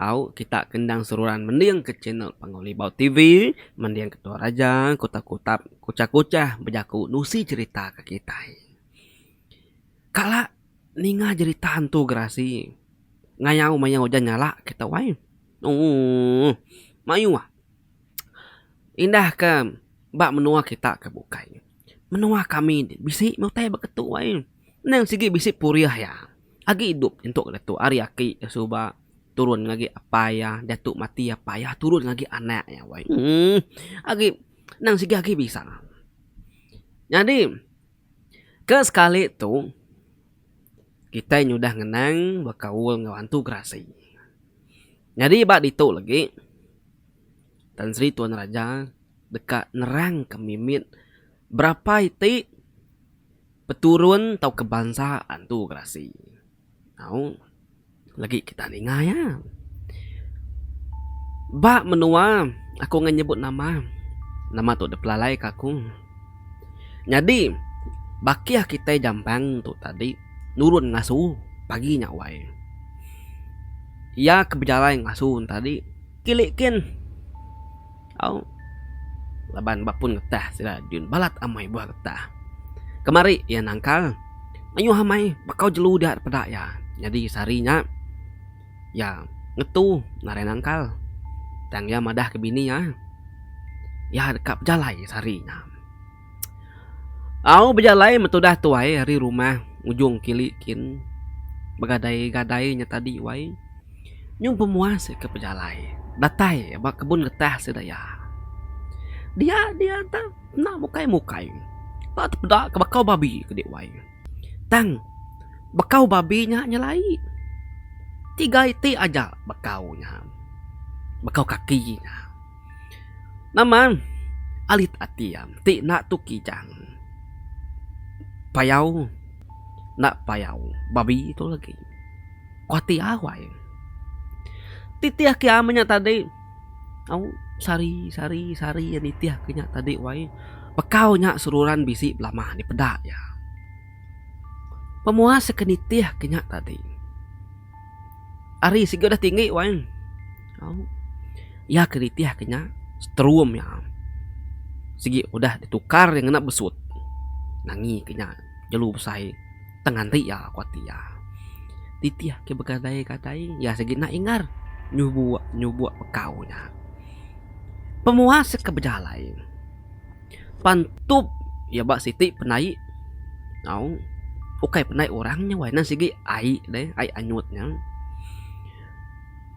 Au kita ke endang seruran mending ke channel Panggau Libau TV mending ke Tua Raja ku Takutap Kuchah Kuchah bejaku nusi cherita ke kitai. Kala ninga jerita hantu gerasi ngayau maya ujan nyala kita wai. Ooh mayuh indah ke ba menua kita ke bukai. Menua kami ti bisi meh utai ba ketu ai. Endang sigi bisi purih iya. Agi idup entuk ka ditu ari aki ka suba turun ngaji apai iya diatu mati apai iya turun ngaji anak iya weh. Emm agi endang sigi agi bisa. Nyadi ke sekali tu kitai nyudah ngenang bekaul enggau antu gerasi. Nyadi ba ditu legi. Tan Sri Tuan Raja deka nerangka mimit berapa iti peturun tauka bansa antu gerasi tau lagi kita ninga iya. Ba menua aku ngga nyebut nama, nama tu dep lalaika aku. Nyadi bakih kitai jamban tu tadi nurun ngasu pagi nya wai. Iya ke bejalai ngasu tadi. Kili kin. Au. Laban ba pun getah sida Din balat amai buah getah. Kemari iya nangkal mayuh amai bekau jelu dia peda iya. Nyadi sehari nya iya ngetu ngaran nangkal tang iya madah ke bini iya. Iya deka bejalai sehari nya. Au bejalai meh tudah tuai ari rumah ujung kili kin begadai gadai nya tadi wai nyung pemuas eka bejalai datai ba kebun getah sida iya. Dia dia tang enda mukai mukai ba te peda ke bakau babi kudi wai tang bakau babi nya nyelai tiga iti aja bakau nya bakau kaki nya. Nama alit ati am ti enda tu kijang. Payau enda payau babi tu legi kuati awai. Titih ke ama nya tadi au sari sari sari iya nitih ke nya tadi wai pekau nya seruran bisi belama nya peda iya. Pemuas ke nitih ke nya tadi. Ari siku dah tinggi wang. Iya ke ritih ke nya setrum iya. Sigi udah ditukar iya ngena besut. Nangi ke nya jelu besai tang nganti iya aku ati iya. Titih ake begadai-gadai iya sigi nda ingar nyubuk nyubuk pekau nya. Pemuas ke bejalai. Pan tup iya ba siti penai au ukai penai orang nya wai nan sigi ai deh ai anyut nya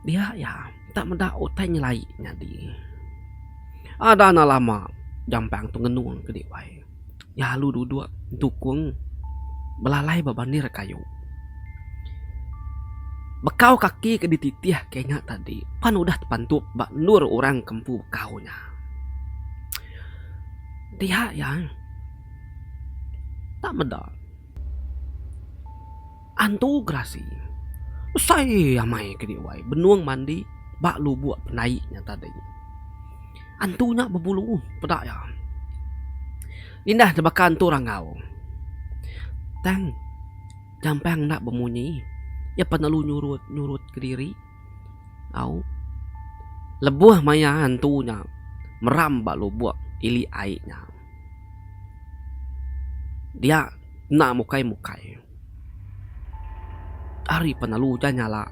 dia iya enta meda utai nyelai nyadi ada anak lama Jampang tu ngenung kadi wai iya alu duduk nyukung belalai ba bandir kayu bekau kaki ke dititih ke nya tadi pan udah pan tup ba endur orang ke empu bekau nya. Diha iya enda meda antu gerasi besai amai ke dek wai benung mandi ba lubok penai nya tadi. Antu nya bebulu peda iya indah ke baka antu rangau tang nyampang enda bemunyi iya penelu nyurut nyurut kediri. Au. Lebuh maya hantu nya meram ba lubuk ili ai nya. Dia enda mukai mukai. Ari pen alu ujan nyala.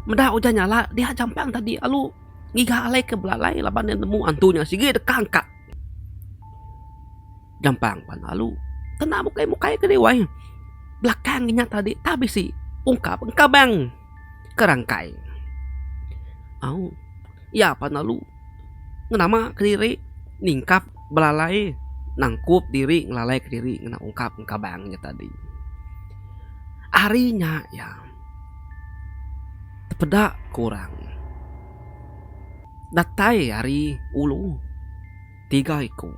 Meda ujan nyala dia jampang tadi alu ngiga alai ke belalai laban iya nemu hantu nya sigi deka angkat. gampang pan lalu kena mukai mukai ke dei wai belakang inya tadi tah bisi ungkap engka bang ke rangkai au iya pan lalu nama kediri ningkap belalai nangkup diri ngelalai ke diri ngena ungkap engka bang inya tadi ari nya iya tepeda ke orang datai ari ulu. tiga iku.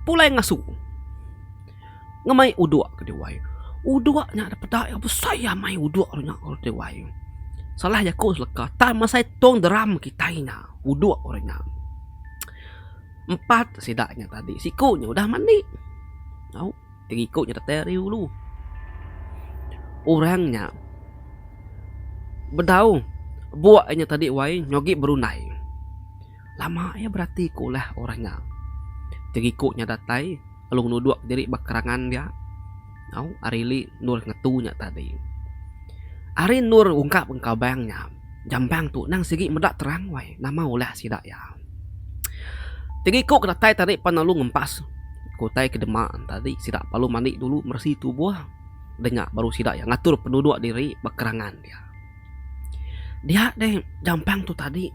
Pulai ngasu ngemai udok ke diwai. Udok nya da peda iya besai amai udok nya ngaran ti wai. Salah jaku seleka tang masai tong drum kitai nya udok ngaran nya. Empat sida nya tadi siku nya udah mandi au ti iku nya datai ari ulu. Orang nya bedau buk nya tadi wai nyogi berundai. Lama iya berati ke ulah orang nya. Teriku nya datai lalu ngenuduk diri ba kerangan dia. Au, ari li endur ngetu nya tadi. Ari endur ungkap enka bang nya, jambang tu nang sigi meda terang wai nama ulah sida iya. Teriku ke datai tadi pan lalu ngempas ke utai ke dema tadi sida lalu mandi dulu meresi tubuh. Denya baru sida iya ngatur penuduk diri ba kerangan dia. Dia deh jampang tu tadi.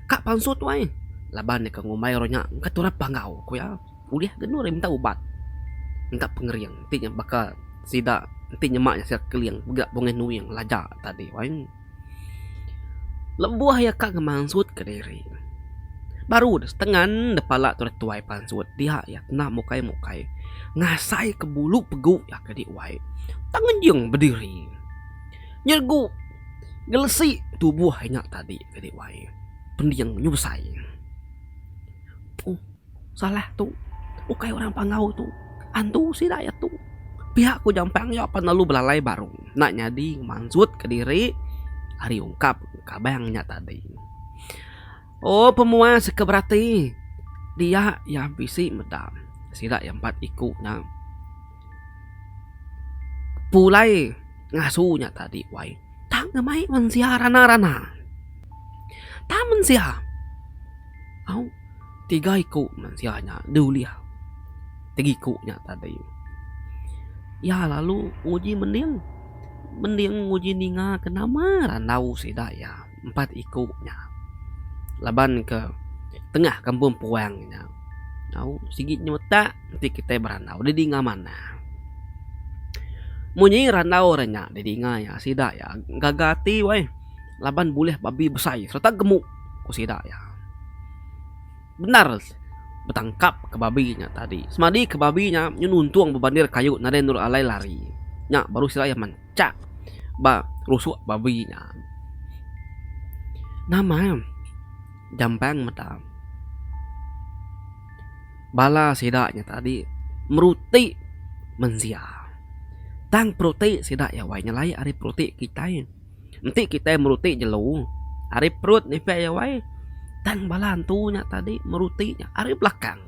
Ka pansut wai. Laban deka ngumbai orang nya engka turap panggau ku iya. Ulih ke enu ari minta ubat. Minta pengering ti nya baka sida ti nyema iya sida keling mega bungih nuing laja tadi wai. Lebuh iya ka ngemansut ke diri baru deh setengan deh pala tu deh tuai pansut dia iya kena mukai mukai ngasai ke bulu pegu iya ke dih wai. Tang ngejing bediri. nyergu ngelesi tubuh inya tadi kadi wai pending nyu besai puh salah tu ukai orang panggau tu antu sida iya tu pia ku jampang iya pan lalu belalai baru enda nyadi mansut kediri ari ungkap kabang nya tadi ooh pemuas ke berati dia iya bisi meda sida iya empat iku nya. Pulai ngasu nya tadi wai tang ne mai mensia rana rana. Tang mensia au tiga iku mensia nya deh ulih tiga iku nya tadi. Iya lalu nguji mending mending nguji ninga ke nama randau sida iya. empat iku nya laban ke tengah kampung puang nya tau sigi nyau utak enti kitai berandau deh dinga manah. Munyi randau re nya deh dinga iya sida iya gaga ati weh laban bulih babi besai sereta gemuk ku sida iya. Bendar betangkap ke babi nya tadi semadi ke babi nya nyenuntung bebandir kayu nadai nurut alai lari nya baru sida iya manah. Chak ba rusuk babi nya. Nama Jampang meda bala sida nya tadi meruti mensia. Tang peruti sida iya wai nyelai ari peruti kitai. Enti kitai meruti jelu ari perut nipeh iya wai tang bala antu nya tadi meruti nya ari belakang.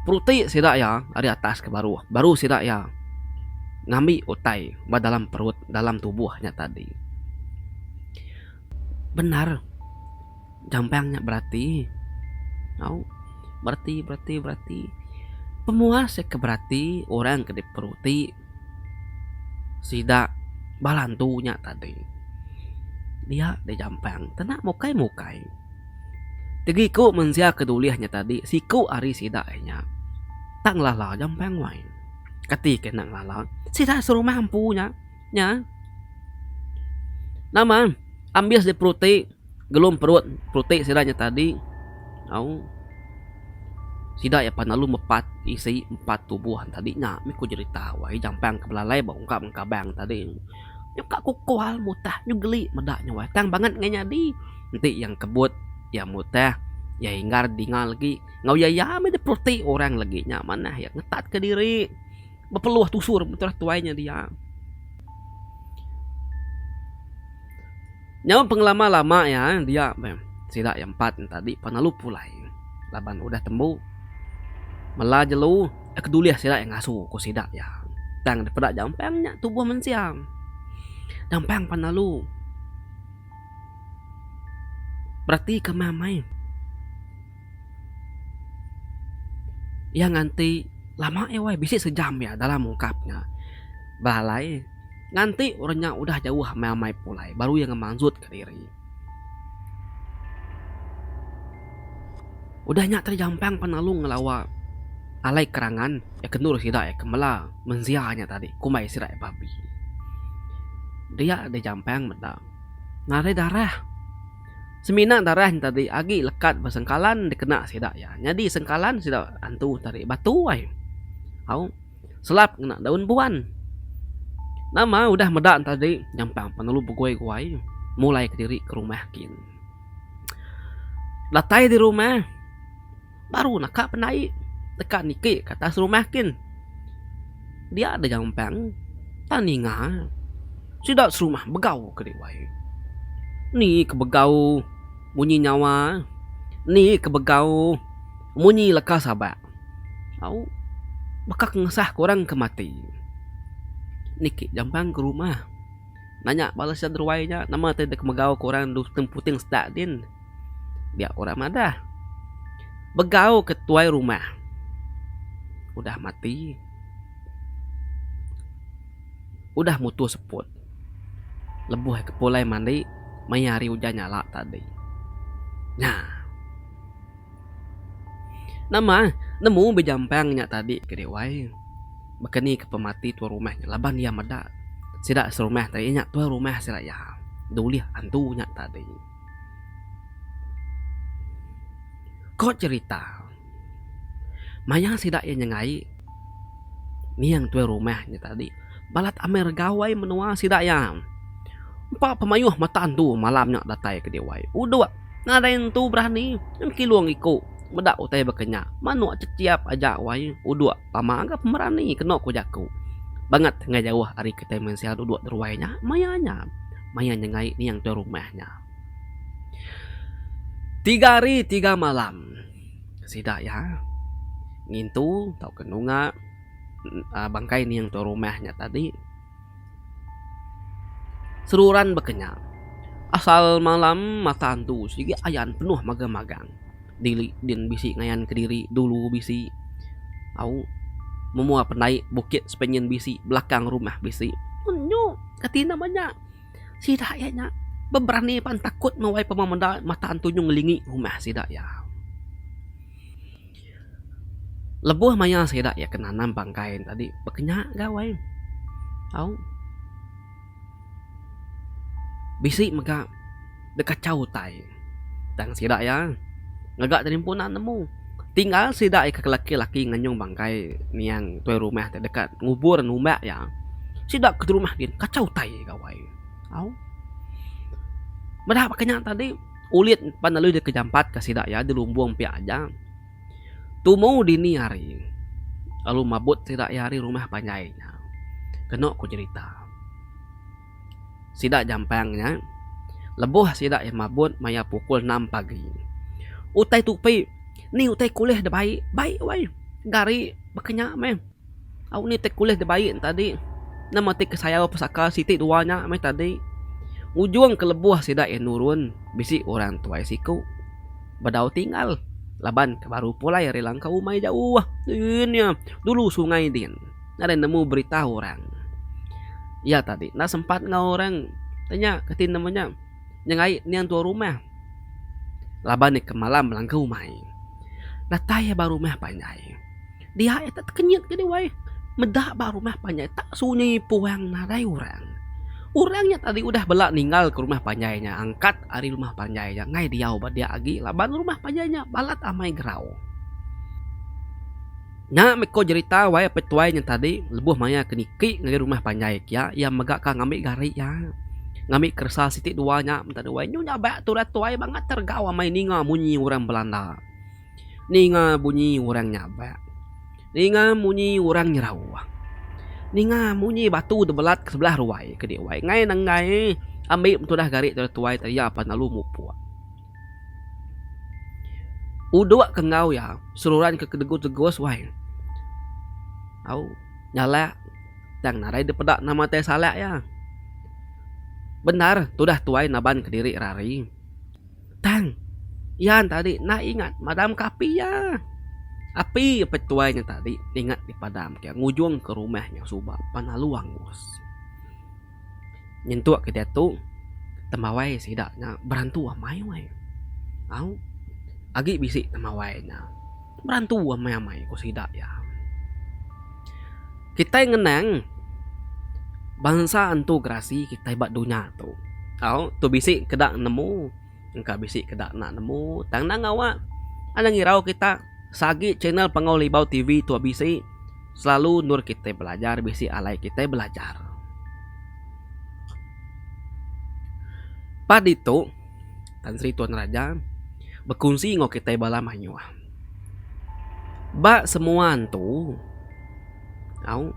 Peruti sida iya ari atas ke baruh, baru sida iya ngambi utai ba dalam perut, dalam tubuh nya tadi. Bendar Jampang nya berati tau. Berati, berati, berati. Pemua seh ke berati orang ke diperuti. Sida bala antu nya tadi dia deh jampang kena mukai mukai tegi ku mensia ke dulih nya tadi siku ari sida nya tak ngelala jampang wai kati ke enda ngelala sida serumah empu nya nya nama ambis diperuti. gelum perut pultik sida nya tadi au sida iya pan lalu mepat isi empat tubuh tadi nya mih ku jerita wai jampang ke belalai ba ungkap ngan kabang tadi. Nya ka ku kual mutah nyu geli meda nya wai tang banget ngai nyadi enti iya kebut iya mutah iya inggar dinga legi enggau iya iya mih dipultik orang legi nya manah iya ngetat ka diri. Bepeluh tusur beterah tuai nya dia. Nyau pengelama lama iya dia meh sida iya empat nya tadi penelu pulai laban udah tembu mela jelu iya ke dulih sida iya ngasu ku sida iya tang dipeda jampang nya tubuh mensia jampang penelu beratika meh amai. Iya nganti lama iya weh bisi sejam iya dalam ungkap nya ba alai nganti orang nya udah jauh meh amai pulai baru iya ngemanjut ka diri. Udah nya tadi Jampang pan lalu ngelawa alai kerangan iya kendur sida iya ke mela mensia nya tadi kumbai sida iya babbi. Dia deh Jampang meda ngarai darah. Semina darai entadi agi lekat ba sengkalan dikena sida iya. Nyadi sengkalan sida antu tarik batu ai. Au selap ngena daun buan. Nama udah meda entadi nyampang penelu beguai-guai mulai kediri ke rumah kin. Datai di rumah. baru naka penai deka niki ka atas rumah kin dia da jampan ta ninga sida serumah begau ke dek wai ni ke begau munyi nyawa ni ke begau munyi leka sabak au baka ngesah ke orang ke mati niki jampan ke rumah nanya bala sida ruai nya nama te dek megau ke orang dau puting sedak din. dia orang madah begau ke tuai rumah udah mati udah mutu seput lebuh ke pulai mandi maya hari ujan nyala tadi nya. Nama nemu bejampang nya tadi ke dek wai baka ni ke pemati tuai rumah nya laban iya meda sida serumah tadi nya tuai rumah sida iya dulih antu nya tadi. Ko cerita maya sida iya nyengai nyieng tuai rumah nya tadi balat amai regawai menua sida iya. Empa pemayuh mata entu malam nya datai ke diwai udok nadai entu berani nyeng kilung iku meda utai baka nya manok chechap aja wai udok tama ga pemerani keno ko jaku banget enggau jauh ari kitai mensia dudok ruai nya maya nya. maya nyengai niang tuai rumah nya. Tiga hari tiga malam sida iya ngintu tauka nunga bangkai niang tuai rumah nya tadi seruran bakanya asal malam mata antu sigi ayan penuh magang-magang. diri din bisi ngayan kediri dulu bisi au memoa pendai bukit sepenyen bisi belakang rumah bisi un nyu kati enda manya sida iya nya beberani pan takut mawai pemau menda mata antu nyu ngelingi rumah sida iya. Lebuh maya sida iya ke nanam bangkai tadi pekenya gawai au. Bisi mega dek kachau utai tang sida iya ngaga telimpun naan nemu tinggal sida iya ke laki laki nganyung bangkai niang tuai rumah ti deka ngubur numba iya sida ke rumah gin kachau utai gawai au meda ba ke nya tadi ulit pan lalu deka jampat ka sida iya dilumbung pia aja. Tumu dini hari, lalu mabut sida iya ari rumah panjai nya. Kenu ku jerita, sida jampang nya lebuh sida iya mabut maya pukul enam pagi. Utai tupi, ni utai kulih da bai. Bai wai, gari baka nya meh. Au ni ti kulih dibai ne tadi nama ti kesayau pesaka siti dua nya meh tadi ujung ke lebuh sida iya nurun bisi orang tuai siku bedau tinggal laban ke baru pulai ari langkau umai jauh yen iya dulu sungai din nadai nemu berita orang iya tadi enda sempat enggau orang da nya reti nama nya nyengai nya tuan rumah laban iya ke malam langkau umai datai ba rumah panjai. Dia iya tak tekenyit ke diwai meda ba rumah panjai tak sunyi puang nadai orang. Orang nya tadi udah bela ninggal ke rumah panjai nya angkat ari rumah panjai nya ngai diau ba dia agi laban rumah panjai nya balat amai gerau. Nya meh ko jerita wai apai tuai nya tadi lebuh maya ke niki ngagai rumah panjai kia iya mega ka ngambi gari iya ngambi keresa siti dua nya meda diwai nyu nya ba turat tuai bangat regau amai ninga munyi orang belanda. Ninga bunyi orang nyabak. Ninga munyi orang nyerauh. Ninga munyi batu tebelat ke sebelah ruai ke di wai ngai nenggai ambi tudah gari tudah tuai tadi iya pan lalu mupuk. Udok ke enggau iya seruran ke tegus tegus wai. Au nyalak tang nadai dipeda nama tai salak iya. Bendar tudah tuai naban kediri ari. Tang. Yan tadi enda ingat madamka api iya. Api peh tuai nya tadi ingat dipadamka iya ngujungka rumah nya suba pan lalu angus. Nyentuk ke diatu temawai sida nya berantu amai weh. Au. Agi bisi temawai nya. Berantu amai-amai, ku sida iya. Kitai ngenang bansa antu gerasi kitai ba dunya tu. Au, tu bisi ke dak nemu, engka bisi ke dak nak nemu. Tang endang ngawa, endang ngirau kita se agi channel Panggau Libau TV tu bisi selalu endur kitai belajar, bisi alai kitai belajar. Paditu. Tan Sri Tuan Raja bekunsi enggau kitai bala mayuh. Ba semua antu, au,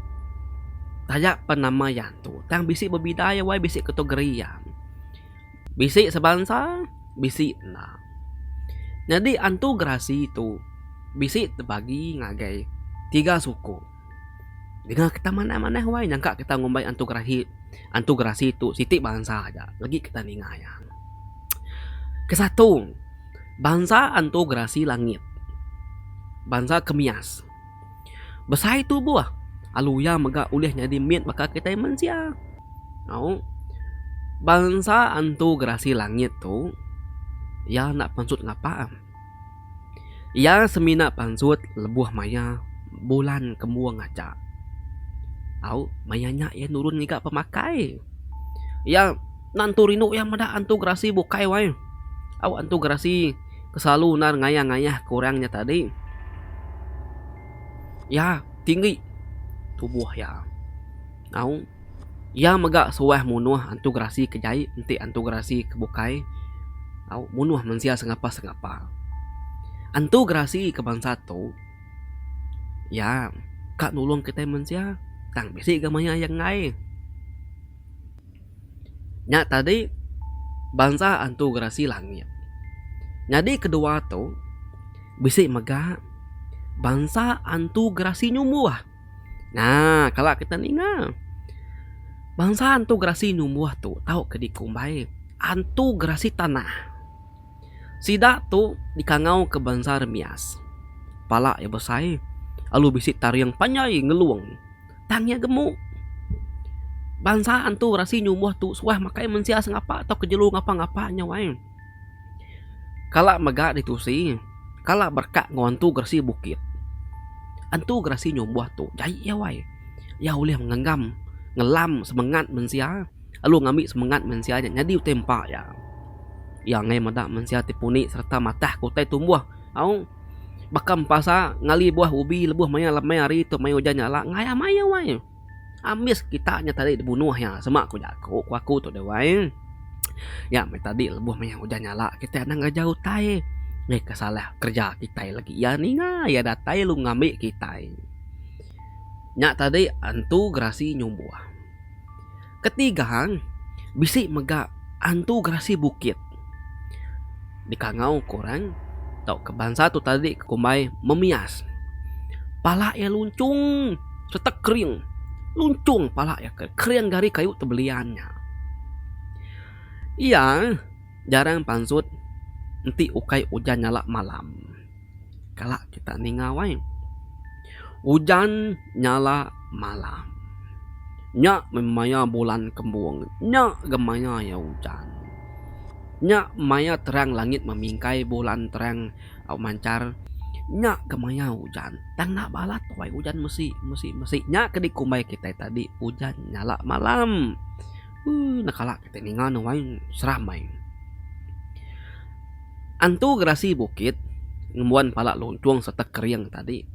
taja pen nama iya antu tang bisi bebida iya wai bisi kategori iya. Bisi sebansa, bisi enda. Nyadi antu gerasi tu bisi dibagi ngagai tiga suku. Deka kita manah manah wai nyangka kita ngumbai antu gerahi antu gerasi tu siti bansa aja legi kita ninga iya. Kesatu bansa antu gerasi langit bansa kemias besai tubuh lalu iya mega ulih nyadi mit baka kitai mensia au bansa antu gerasi langit tu iya enda penusut ngapa am. Iya semina pansut lebuh maya bulan kembung aja. Au maya nya iya nurun ngaga pemakai. Iya nentu rindu iya meda antu gerasi bukai wai. Au antu gerasi ke selalu nan ngayah-ngayah ke orang nya tadi. Iya tinggi tubuh iya. Au. Iya mega suah munuh antu gerasi ke jai enti antu gerasi ke bukai au munuh mensia sengapa sengapa. Antu gerasi ke bansa tu iya ka nulung kitai mensia tang bisi ga maioh iya enggai. Nya tadi bansa antu gerasi langit. Nyadi kedua tu bisi mega bansa antu gerasi nyumbuh. Nah, kala kita ninga bansa antu gerasi numbuh tu tauka dikumbai antu gerasi tanah. Sida tu dikangauka bansa remias. Pala iya besai lalu bisi taring panjai ngelung tang iya gemu. Bansa antu gerasi numbuh tu suah makai mensia sengapa tauka jelu ngapa-ngapa nya wai. Kala mega ditusi, kala berkat enggau Entu Geresi Bukit. Entu Geresi nyumbuh tu jai iya wai. Iya ulih ngenggam ngelam semengat mensia lalu ngambi semengat mensia nya nyadi utai empa iya. Iya enggai meda mensia ti puni sereta matah ke utai tumbuh. Au baka empasa ngali buah ubi lebuh maya lemai hari tu maya ujan nyala ngaia maya wai. Ambis kita nya tadi dibunuh iya sema ku jaku ku aku tu deh wai. Nya meh tadi lebuh mayuh ujan nyala kitai anang ngeraja utai ngehka salah kereja kitai lagi iya ninga iya datai lalu ngambi kitai. Nya tadi antu gerasi nyumbuh. Keti gang bisi mega antu gerasi bukit dikangau ke orang tauka bansa tu tadi ke kumbai memias. Pala iya lunchung sereta kering. Lunchung pala iya ke kering gari kayu ti belian nya. Iya jarang pansut enti ukai ujan nyala malam. Kala kita ninga wai. Ujan nyala malam. Nya meh maya bulan kembung. Nya ga maya iya ujan. Nya maya terang langit memingkai bulan terang au manchar. Nya ga maya ujan. Tang enda balat wai ujan mesi mesi mesi. Nya ke dikumbai kitai tadi ujan nyala malam. Ui na kala kite ninga ne wai seram ai. Antu gerasi bukit ngembuan pala luncung serta kering tadi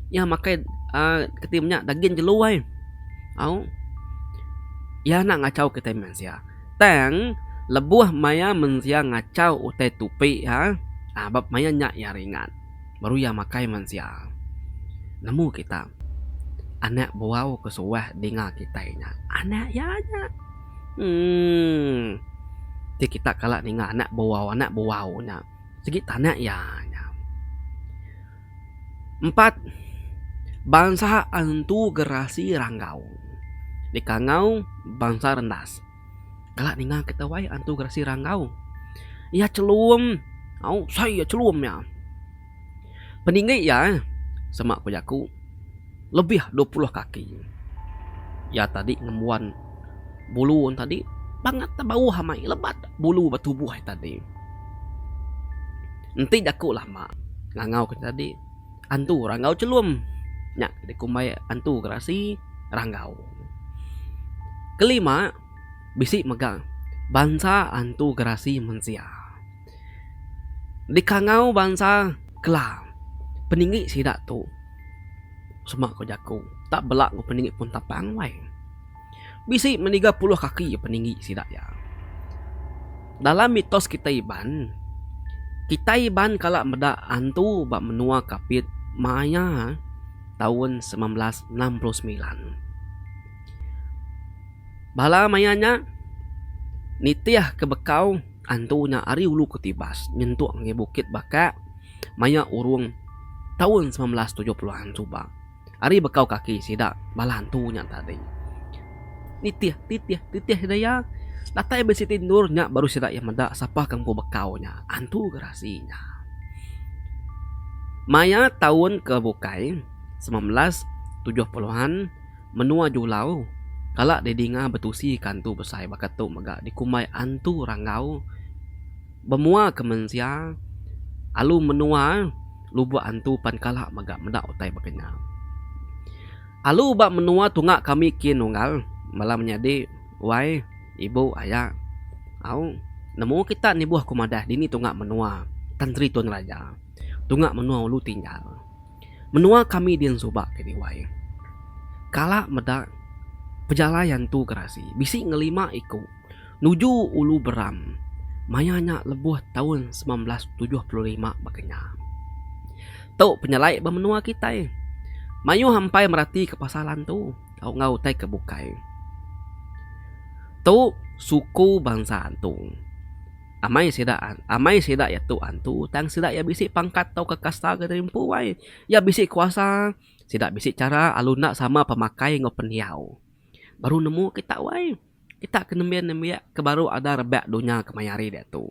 iya makai aaa keti nya dagin jelu ai au iya enda ngachau kite mensia tang lebuh maya mensia ngachau utai tupi ha ba maya nya iya ringan. baru iya makai mensia. Nemu kita anak buau ke suah dinga kitai nya anak iya nya. Emm ti kita kala ninga anak buau anak buau nya sigi tanak iya nya. Empat bansa antu gerasi rangau dikangau bansa rendas. Kala ninga kita wai antu gerasi rangau. Iya chelum. Au sai iya chelum nya. Peninggi iya eh sema ku jaku lebih dua puluh kaki. Iya tadi ngembuan bulu ne tadi bangat da bauh amai lebat bulu ba tubuh iya tadi. Enti jaku lama ngangau ku tadi. Antu Ranggau Chelum nya ke dikumbai Antu Gerasi Ranggau. Kelima, bisi mega bansa Antu Gerasi Mensia. Dikangau bansa Kelang, peninggi sida tu sema ko jaku tak bela ko peninggi Puntapang wai. bisi meniga puluh kaki peninggi sida iya. Dalam mitos kitai Iban, kitai Iban kala meda antu ba menua Kapit maya taun semilan belas enam puluh semilan. Bala maya nya nitihka bekau antu nya ari Ulu Ketibas nyentuk ngagai Bukit Bakak maya urung taun semilan belas tujuh puluhan suba. ari bekau kaki sida bala antu nya tadi. Nitih titih titih sida iya, datai meh siti endur nya baru sida iya meda sapa ke empu bekau nya, antu gerasi nya. Maya taun ke bukai semilan belas tujuh puluhan menua Julau kala didinga betusi ke antu besai baka tu mega dikumbai antu ranggau bemuaka mensia alu menua. Lubuk antu pan kala mega meda utai baka nya. Alu ba menua tunga kami kin unggal bala menyadi wai, ibu, aya. Au, nemu kita nibuh ku madah dini tunga menua Tanteri Tun Raja, tunga menua Ulu Tinjal. Menua kami din suba kini wai. Kala meda pejalai antu gerasi bisi ngelima iku. Nuju Ulu Beram maya nya lebuh taun semilan belas tujuh puluh lima baka nya. Tu penyelai ba menua kitai. Mayuh ampai meratika pasal antu tau enggau utai ke bukai. Tu suku bansa antu. Amai sida amai sida iya tu antu tang sida iya bisi pangkat tauka kasta ke rimpu ai. Iya bisi kuasa, sida bisi chara lalu enda sama pemakai enggau pendiau. Baru nemu kita wai. Kita ke nembiak nembiak ke baru ada rebak dunya ke maya hari diatu.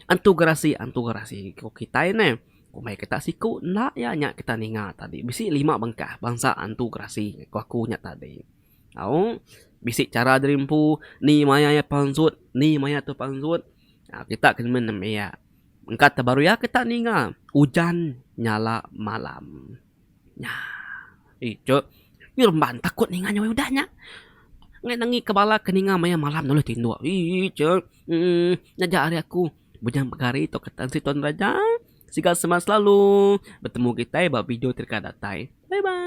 Antu gerasi antu gerasi ku kitai neh. Ku meh kita siku enda iya nya kita ninga tadi bisi lima bengkah bansa antu gerasi ku aku nya tadi. Au bisi chara diri empu ni maya iya pansut ni maya tu pansut aaa kita ke nemu nembiak mengka te baru iya kita ninga ujan nyala malam. Nya. Ijuk. Yu remban takut ninga nyawai udah nya. Ngai nengika bala ke ninga maya malam nulih tinduk. Ijuk. Uhh. Nyaja ari aku. Bujang pegari tok ketan siti tuan raja. Sigal semak selalu. Betemu kitai ba video ti deka datai. Bye bye.